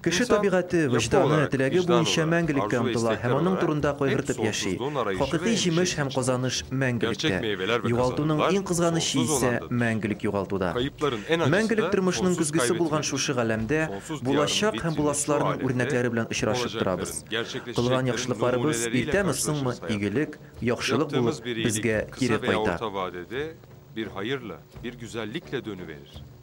Кеше табигате, вөҗданы, теләге буенча мәңгелеккә омтыла һәм аның турында кайгыртып яши. Хакыйкый җимеш һәм казаныш мәңгелектә. Югалтуның иң кызганычы исә мәңгелек югалтуда. Мәңгелек тормышның көзгесе булган шушы галәмдә булачак һәм буласыларның үрнәкләре белән очрашып торабыз. Кылган яхшылыкларыбыз иртәме-соңмы игелек, яхшылык булып безгә кире кайта.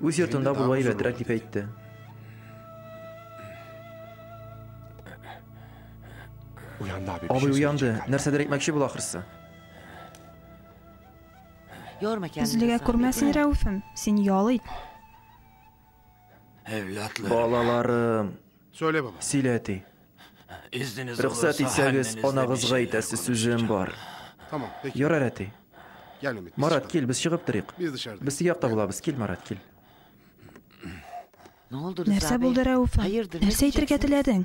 Үз йортында булу әйбәтрәк дип әйтте. Абый уянды. Нәрсәдер әйтмәкче була ахрысы. Үзлегә күрмәсен Рәүфем, син ял ит. Балаларым. Сөйлә, баба. Сөйлә, әти. Рөхсәт итсәгез, анагызга әйтәсе сүзем бар. Ярар, әти. Марат, кил, без чыгып торыйк. Без теге якта булабыз. Кил, Марат, кил. Нәрсә булды, Рәүф? Нәрсә әйтергә теләдең?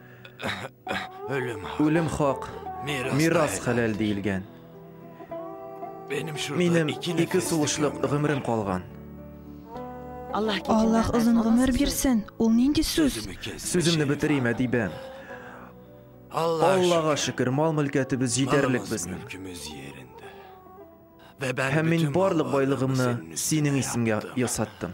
Үлем хак, мирас хәләл диелгән. Минем ике сулышлык гомерем калган. Аллаһ озын гомер бирсен. Ул нинди сүз? Сүземне бетерим, Әдибә. Аллага шөкер, мал-мөлкәтебез җитәрлек безнең. Һәм мин барлык байлыгымны синең исемгә ясаттым.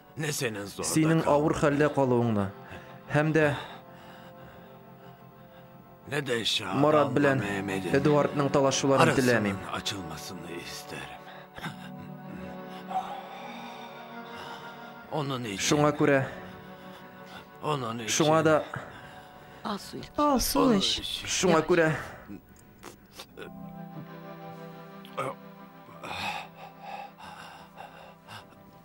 Синең авыр хәлдә калуыңны һәм дә Марат белән Эдуардның талашуларын теләмим. Шуңа күрә Шуңа да Алсу эч. Шуңа күрә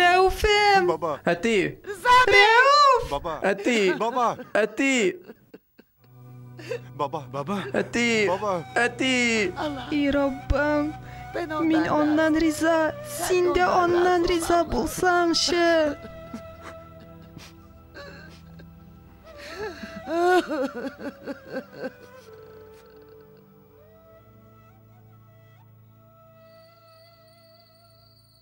Рәүфем! Баба! Әти! Рәүф! Баба! Әти! Баба! Әти! Баба! Баба! Әти! Баба! Әти! И Раббым! Мин аннан риза, син дә аннан риза булсаңчы!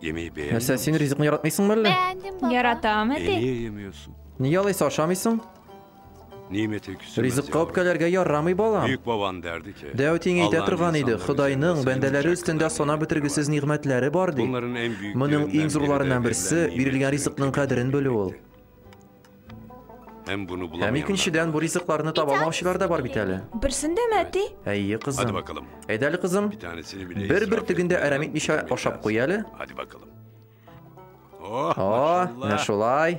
Нәрсә, син ризыкны яратмыйсың мәллә? Яратам, әти. Нигә алайса ашамыйсың? Ризыкка үпкәләргә ярамый балам. Бик бабан дәрде ке. Дәү тиң әйтә торган иде, Ходайның бәндәләре өстендә сана бетергесез нигъмәтләре бар ди. Моның иң зурларыннан берсе бирелгән ризыкның кадерен белү ул. Һәм икенчедән, бу ризыкларны таба алмаучылар да бар бит әле. Берсендә мәти? Әйе, кызым. Әйдә әле, кызым. Бер бер тегендә әрәм итмичә ашап куй әле. О, менә шулай.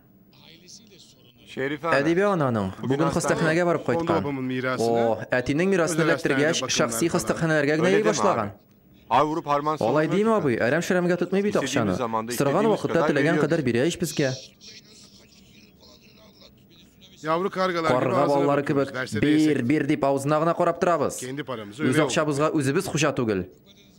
Әдибә ананың бүген хастаханәгә барып кайткан. О, әтинең мирасын эләктергәч, шәхси хастаханәләргә генә йөри башлаган. Алай димә, абый, әрәм-шәрәмгә тотмый бит акчаны. Сораган вакытта теләгән кадәр бирә ич безгә. Карга балалары кебек, бир, бир дип авызына гына карап торабыз. Үз акчабызга үзебез хуҗа түгел.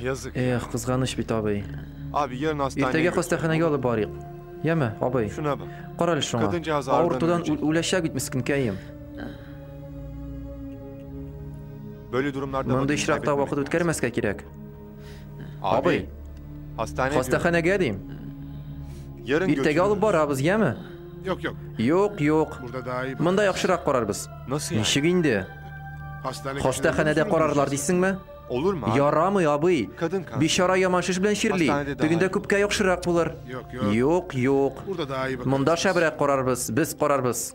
Язык. Эх, кызганыч бит, абый. Иртәгә хастаханәгә алып барыйк. Яме, абый. Шуна бак. Кара әле шуңа. Авыртудан үләчәк бит мескенкәем. Мондый очракта вакыт үткәрмәскә кирәк. Абый. Хастаханәгә дим. Иртәгә алып барабыз, яме? Юк, юк. Юк, юк. Монда яхшырак карарбыз. Ничек инде? Хастаханәдә карарлар дисеңме? Ярамый, абый. Бичара яман шеш белән чирли. Тегендә күпкә яхшырак булыр. Юк, юк. Монда шәбрәк карарбыз, без карарбыз.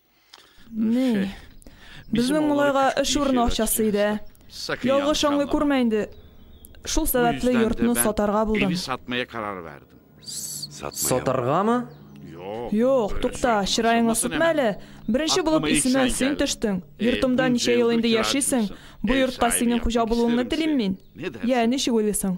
Ни? Безнең малайга эш урыны акчасы иде. Ялгыш аңлый күрмә инде. Шул сәбәпле йортны сатарга булдым. Сатмая карар бәрдем. Сатаргамы? Юк, тукта, чыраеңны сүтмә әле. Беренче булып исемә син төштең. Йортымда ничә ел инде яшисең? Бу йортка синең хуҗа булуыңны телим мин. Я, ничек уйлыйсың?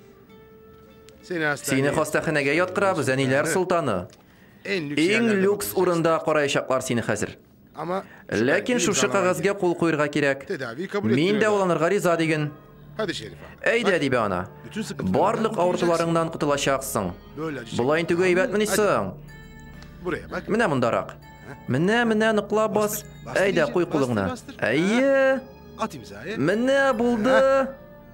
Сине хастаханәгә яткырабыз, әниләр солтаны. Иң люкс урында караячаклар сине хәзер. Ләкин шушы кагазьгә кул куерга кирәк. Мин дә уланырга риза диген. Әйдә, дибә ана. Барлык авыртуларыңнан котылачаксың. Болай интегү әйбәтмени соң? Менә мондарак. Менә, менә ныкла бас. Әйдә, куй кулыңны. Әйе. Менә булды.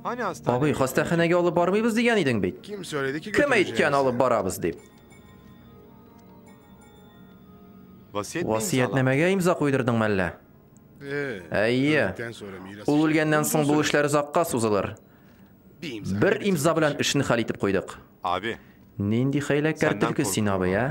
Абый, хастаханәгә алып бармыйбыз дигән идең бит. Кем әйткән алып барабыз дип? Васиятнамәгә имза куйдырдың мәллә? Әйе. Ул үлгәннән соң бу эшләр озакка сузылыр. Бер имза белән эшне хәл итеп куйдык. Нинди хәйләкәр төлке син, абый, ә?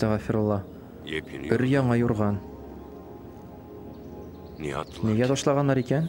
Астагфирулла. Бер яңа юрган. Нигә ташлаганнар икән?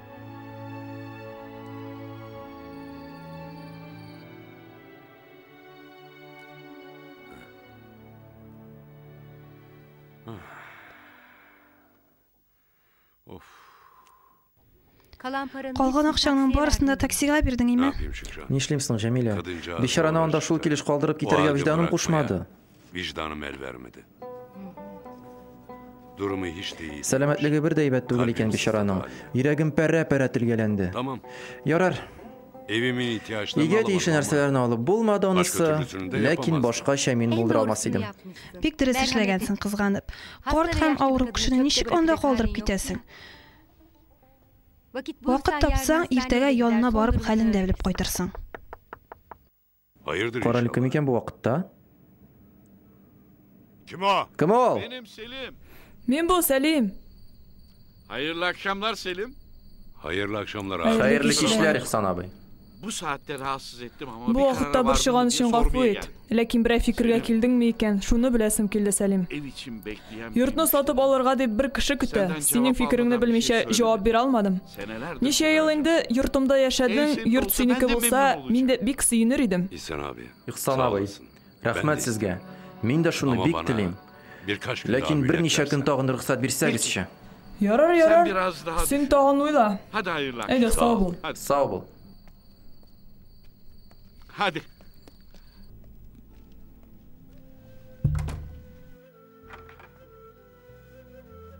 Калган акчаңның барысын да таксига бирдең, име? Нишлим соң, Җәмилә? Бичараны анда шул килеш калдырып китәргә виҗданым кушмады. Вижданым әл бәрмеде. Дурымы һич тә ий. Сәламәтлеге бер дә әйбәт түгел икән бичараның. Йөрәгем пәрә-пәрә телгәләнде. Тамам. Ярар. Эвимен ихтиячны Игә тиешле нәрсәләрне алып булмады анысы, ләкин башкача мин булдыра алмас идем. Бик дөрес эшләгәнсең, кызганып. Карт һәм авыру кешене ничек анда калдырып китәсең? Вакыт тапсаң, иртәгә янына барып хәлен дә белеп кайтырсың. Король кем икән бу вакытта? Кем ул? Мин бу, Сәлим. Хәерле акшамлар, Сәлим. Хәерле акшамлар. Хәерле кичләр, Ихсан абый. Бу сәгатьтә рассыз иттем, ама Бу вакытта борчыган өчен гафу ит. Ләкин берәр фикергә килдеңме икән? Шуны беләсем килде, Сәлим. Йортны сатып алырга дип бер кеше көтә. Синең фикереңне белмичә җавап бирә алмадым. Ничә ел инде йортымда яшәдең, йорт синеке булса, мин дә бик сөенер идем. Ихсан абый, рәхмәт сезгә. Мин дә шуны бик телим. Ләкин берничә көн тагын рөхсәт бирсәгезче. Ярар, ярар. Син тагын уйла. Әйдә, сау бул. Сау бул. Һади.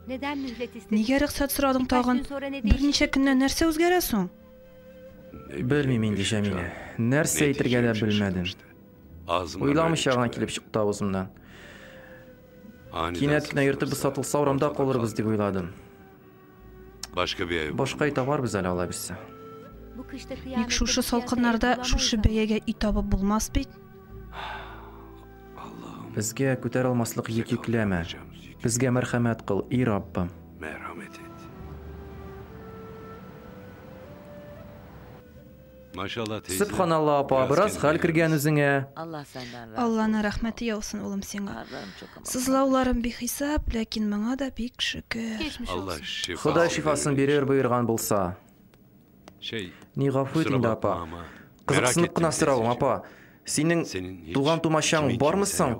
Нигә рөхсәт сорадың тагын? Берничә көннән нәрсә үзгәрә соң? Белмим инде, Җәмилә. Нәрсә әйтергә дә белмәдем. Уйламыйча гына килеп чыкты авызымнан. Кинәт кенә йортыбыз сатылса, урамда калырбыз дип уйладым. Башка бәя. Башка ай табарбыз әле алай бисә. Ник шушы салкыннарда шушы бәягә ит табып булмас бит? Безгә күтәр алмаслык йөк йөкләмә. Безгә мәрхәмәт кыл, и Раббым. Сөбханалла апа, бераз хәл кергән үзеңә. Алланы рәхмәте яусын улым сиңа. Сызлауларым бихисап, ләкин моңа да бик шөкер. Ходай шифасын бирер боерган булса. Ни гафу ит инде апа. Кызыксынып кына соравым апа, синең туган тумачаң бармы соң?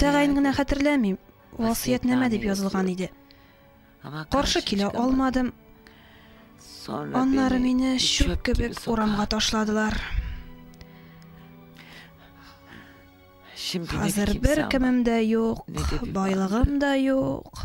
Тәгаен генә хәтерләмим, васыятьнамә дип язылган иде. Каршы килә алмадым. Аннары мине чүп кебек урамга ташладылар. Хәзер бер кемем дә юк, байлыгым да юк.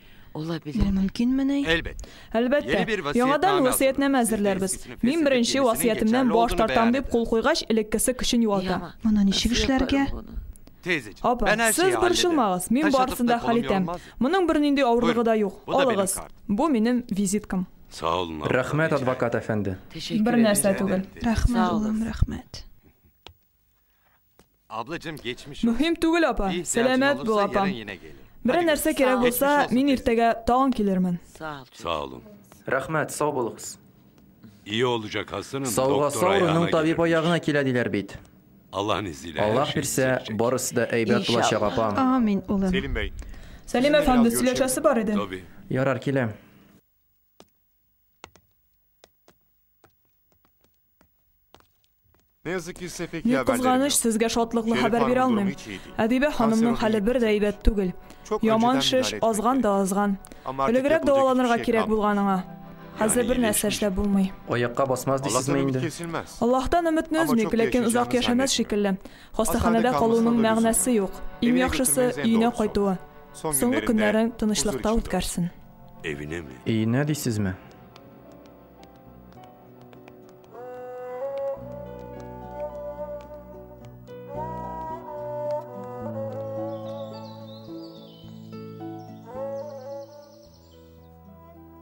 Бу мөмкинмени? Әлбәттә. Яңадан васыятьнамә әзерләрбез. Мин беренче васыятемнән баш тартам дип кул куйгач, элеккесе көчен югалта. Моны ничек эшләргә? Апа, сез борчылмагыз, мин барысын да хәл итәм. Моның бернинди авырлыгы да юк. Алыгыз. Бу минем визиткам. Рәхмәт, адвокат әфәнде. Бернәрсә түгел. Рәхмәт, улым, рәхмәт. Мөһим түгел, апа. Сәламәт бул, апам. Берәр нәрсә кирәк булса, мин иртәгә тагын килермен. Сау булу. Рәхмәт, сау булыгыз. Сауга сауның табиб аягына килә диләр бит. Аллаһ бирсә, барысы да әйбәт булачак, апам. Амин, улым. Сәлим бәй. Сәлим әфәнде, сөйләшәсе бар иде. Ярар, киләм. Ни кызганыч, сезгә шатлыклы хәбәр бирә алмыйм. Әдибә ханымның хәле бер дә әйбәт түгел. Яман шеш азган да азган. Элегрәк дәваланырга кирәк булган аңа. Хәзер бер нәрсә эшләп булмый. Аякка басмас дисезме инде? Аллаһтан өметне өзмик, ләкин озак яшәмәс шикелле. Хастаханәдә калуның мәгънәсе юк. Иң яхшысы, өенә кайтуы. Соңгы көннәрен тынычлыкта үткәрсен. Өенә дисезме?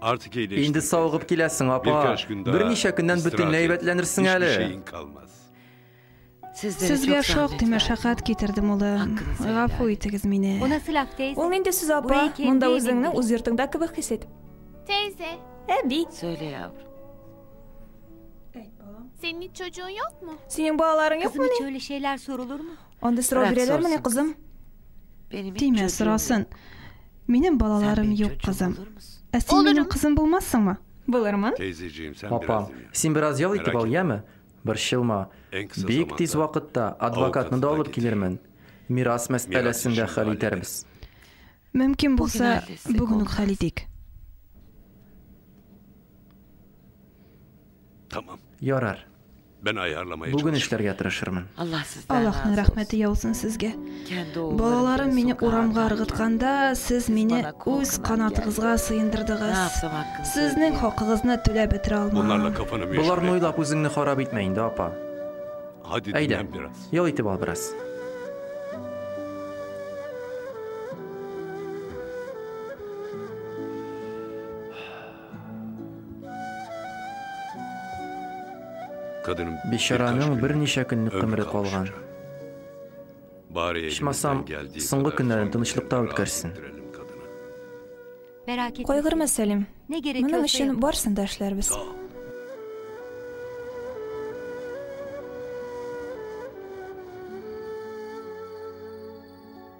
Инде савыгып киләсең, апа. Берничә көннән бөтенләй әйбәтләнерсең әле. Сезгә шактый мәшәкать китердем, улы. Гафу итегез мине. Ул нинди сүз, апа? Монда үзеңне үз йортыңда кебек хис ит. Тәйзә. Әби. Сөйлә, ябр. Синең чөҗүң юкмы? Синең балаларың юкмы? Кызым, чөҗүле шейләр сорылырмы? Анда сорау бирәләр менә, кызым. Тимә, сорасын. Минем балаларым юк, кызым. Ә син минем кызым булмассыңмы? Булырмын. Тәйзә җием, син бераз ял итеп ал, яме? Борчылма, бик тиз вакытта адвокатны да алып килермен, мирас мәсьәләсен дә хәл итәрбез. Мөмкин булса, бүген үк хәл итик. Ярар. Бүген эшләргә тырышырмын. Аллаһның рәхмәте яусын сезгә. Балаларым мине урамга ыргытканда, сез мине үз канатыгызга сыендырдыгыз. Сезнең хакыгызны түләп бетерә алмам. Боларны уйлап үзеңне харап итмә инде, апа. Әйдә, ял итеп ал бераз. Бичараның берничә көнлек гомере калган. Ичмасам, соңгы көннәрен тынычлыкта үткәрсен. Кайгырма, Сәлим. Моның өчен барсын да эшләрбез.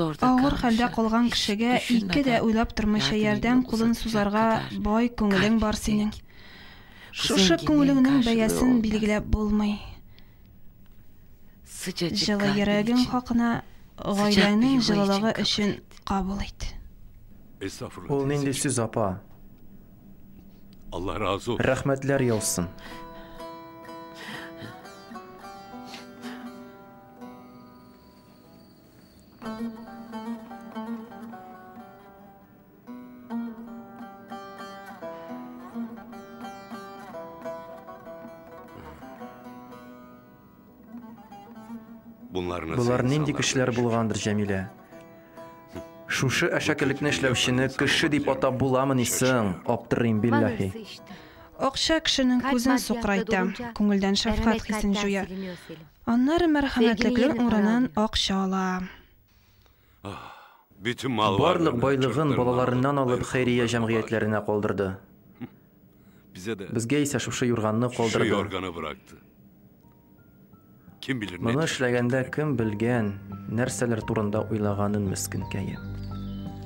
Авыр хәлдә калган кешегә ике дә уйлап тормыйча ярдәм кулын сузарга бай күңелең бар синең. Шушы күңелеңнең бәясен билгеләп булмый. Җылы йөрәгең хакына гаиләңнең җылылыгы өчен кабул ит. Ул нинди сүз, апа? Рәхмәтләр яусын. Болар нинди кешеләр булгандыр, Җәмилә? Шушы әшәкелекне эшләүчене кеше дип атап буламыни соң? Аптырыйм, билләһи. Акча кешенең күзен сукрайта, күңелдән шәфкать хисен җуя. Аннары мәрхәмәтлеклең урынын акча ала. Барлык байлыгын балаларыннан алып хәйрия җәмгыятьләренә калдырды. Безгә исә шушы юрганны калдырды. Моны эшләгәндә кем белгән, нәрсәләр турында уйлаганын мескенкәем.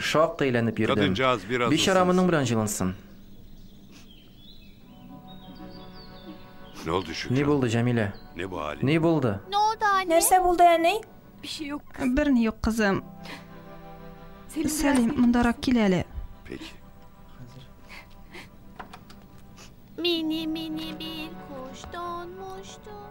Шактый әйләнеп йөрдем. Бичара моның белән җылынсын. Ни булды, Җәмилә? Ни булды? Нәрсә булды, әни? Берни юк, кызым. Сәлим, мондарак кил әле. Мини, мини, бир, куштон, муштон.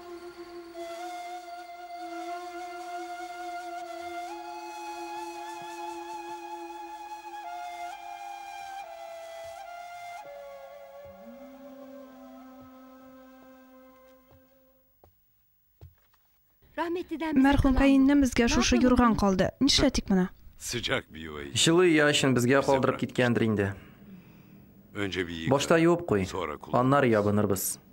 Мәрхүм каеннем безгә шушы юрган калды. Нишләтик моны? Сыҗак биюй. Җылы ия өчен безгә калдырып киткәндер инде. Башта юып куй, аннары ябынырбыз.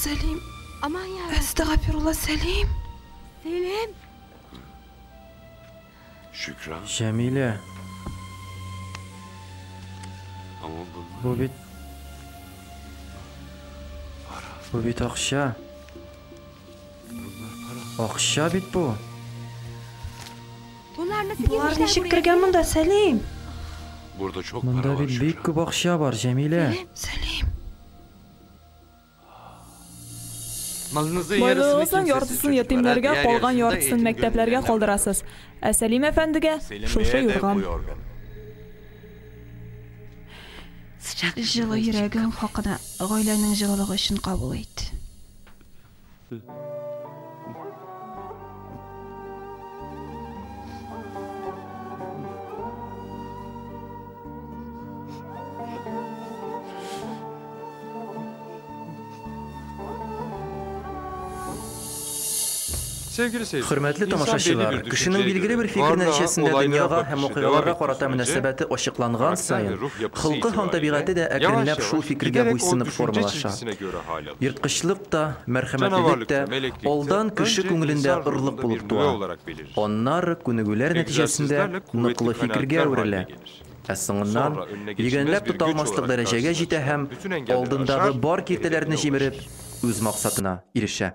Сәлим. Аман я. Әстәгәфирулла Сәлим. Сәлим. Шөкран. Җәмилә. Бу бит Бу бит акча. Акча бит бу. Болар ничек кергән монда, Сәлим? Burada çok para Монда var бит бик күп акча бар, Җәмилә. Сәлим. Байлыгыгызның яртысын ятимнәргә, калган яртысын мәктәпләргә калдырасыз. Ә Сәлим әфәндегә шушы юрган. Җылы йөрәгең хакына гаиләнең җылылыгы өчен кабул ит. Хөрмәтле тамашачылар, кешенең билгеле бер фикер нәтиҗәсендә дөньяга һәм вакыйгаларга карата мөнәсәбәте ачыкланган саен, холкы һәм табигате дә әкренләп шул фикергә буйсынып формалаша. Ерткычлык та, мәрхәмәтлелек тә алдан кеше күңелендә орлык булып туа, аннары күнегүләр нәтиҗәсендә ныклы фикергә әверелә, ә соңыннан йөгәнләп тота алмаслык дәрәҗәгә җитә һәм алдындагы бар киртәләрне җимереп, үз максатына ирешә.